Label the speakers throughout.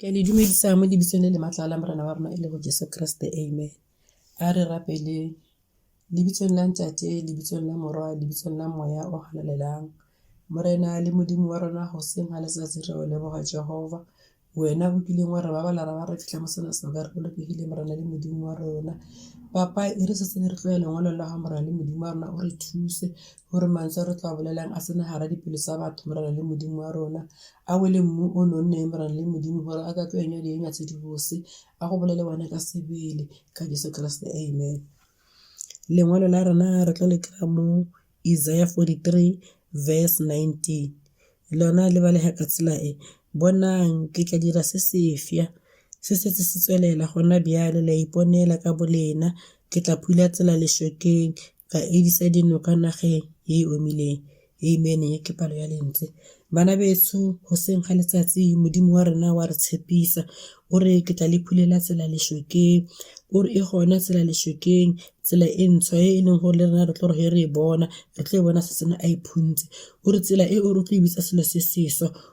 Speaker 1: ke a le dumedisa mo lebitsong le le matlala morena wa rona e le go jesu keresete amen a re rapeleng Lebitsong la Ntate, lebitsong la Mora, lebitsong la Moya o Halalelang. Morena le Modimo wa rona, hoseng ha letsatsi re o leboga Jehova. Wena o kileng wa re babala ra ba re fitlha mo sena sebaka re bolokegile Morena le Modimo wa rona. Papa e re setse re tloya lengwalong la ga Morena le Modimo wa rona o re thuse gore mantswe a re tlo a bolelang a tsene gara dipelo tsa batho Morena le Modimo wa rona. A wele mmu o nonneng Morena le Modimo gore a ka tlo enya dienya tse di bose A go bolele wena ka sebele ka Jeso Keresete, amen. Lengwalo la rona re tlo le kry-a mo Isaiah 43 verse 19 lona le balega ka tsela e, Bonang, ke tla dira se sefsa, se setse se tswelela gona bjale, le a iponela ka bolena, ke tla phula tsela lešokeng, ka edisa dinoka nageng e e omileng. Amen ke palo ya lentswe. Bana betsho goseng ga letsatsi Modimo wa rena wa re tshepisa o re ke tla le phulela tsela lešokeng o re e gona tsela lešokeng tsela e ntshwa e e leng gore le rena re tlo gore re e bona re tlo e bona se sena a e phuntse o re tsela e o re tlo e bitsa selo se seswa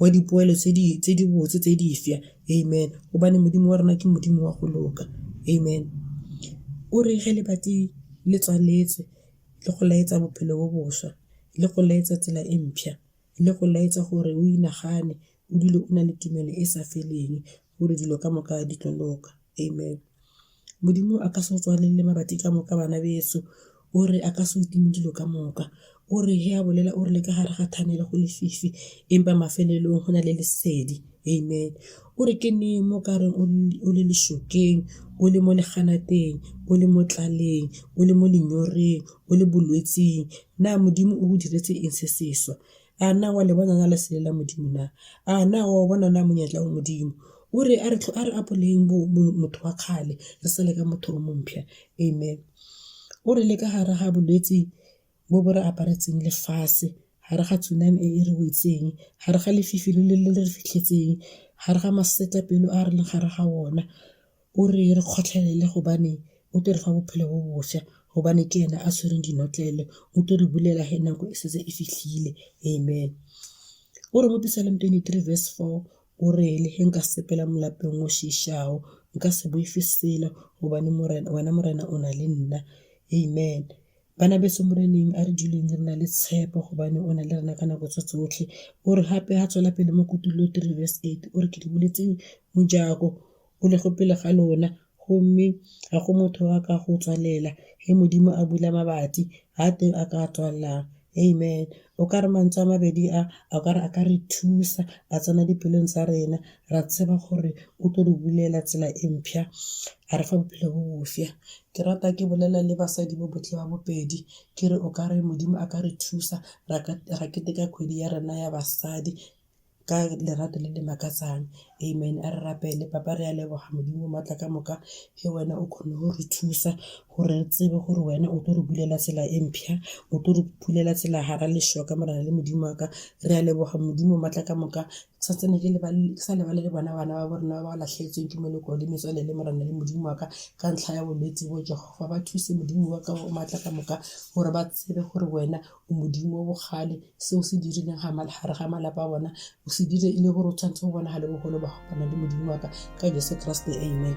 Speaker 1: wa dipoelo tse di botse tse di fša amen gobane modimo wa rona ke modimo wa go loka amen o re ge lebati le tswaletswe le go laetsa bophelo bo boswa le go laetsa tsela e mpšha le go laetsa gore o inagane o dule o na le tumelo e sa feleng gore dilo ka moka di tlo loka amen Modimo a ka se go tswalele mabati ka moka bana bešo o re a ka se utlwile dilo ka moka, o re he a bolela o re le ka gare ga tunnel go lefifi empa mafelelong go na le lesedi amen. O re ke neng mo kareng o le lešokeng, o le mo leganateng, o le mo tlaleng, o le mo lenyoreng, o le bolwetsing na Modimo o go diretse eng se sešwa. A na wa le bona na lesele la Modimo na? A na wa o bona na monyetla wa Modimo? O re a re apoleleng motho wa kgale re sale ka motho o mompšha. Amen. O re le ka gare ga bolwetse bo bo re aparetseng lefatshe, gare ga tsunami e e re wetseng, gare ga lefifi le le re fitlhetseng, gare ga masetlapelo a re leng gare ga ona, O re re kgotlhelele gobane o tlo re fa bophelo bo bosha gobane ke ene a tshwereng dinotlele o tlo re bulela he nako e setse e fitlhile amen. O re mo Psalm twenty three verse four o re le he nka sepela mo lapeng o šišago nka se boife selo gobane morena wena morena o na le nna amen. Bana beso moreneng a re duleng re na le tshepo gobane o na le rena ka nako tse tsotlhe. O re gape ha tswela pele mo kutollo three verse eight o re ke le buletse mojako. o le go pele ga lona, go mme ga go motho yo a ka go tswalela, ge Modimo a bula mabati, ga a teng a ka a tswalelang. Amen. O kare mantswe a mabedi a, o kare a ka re thusa, a tsena dipelong tsa rena, ra tseba gore o tlo re bulela tsela e mpsha, a re fa bophelo bo bofsa. Ke rata ke bolela le basadi ba botlhe ba bobedi, ke re o kare Modimo a ka re thusa, ra keteka kgwedi ya rena ya basadi. ka lerato le le makatsang amen a re rapele papa re a leboga modimo maatla ka moka ke wena o kgone go re thusa gore re tsebe gore wena o tlo re bulela tsela e mpšha o tlo re phulela tsela gara lešwa ka morena le modimo wa ka re a leboga modimo maatla ka moka sa tsene ke sa lebale le bona bana ba bo rena ba ba latlhegetsweng ke meloko le metswalele le morena le modimo wa ka ka ntlha ya bolwetse bo jehofa ba thuse modimo wa ka o maatla ka moka gore ba tsebe gore wena Modimo wa bogale se o se dirileng ga gare ga malapa a bona o se dire e le gore o tshwanetse go bonagale bogolo ba gopana le modimo wa ka ka jesu keresete amen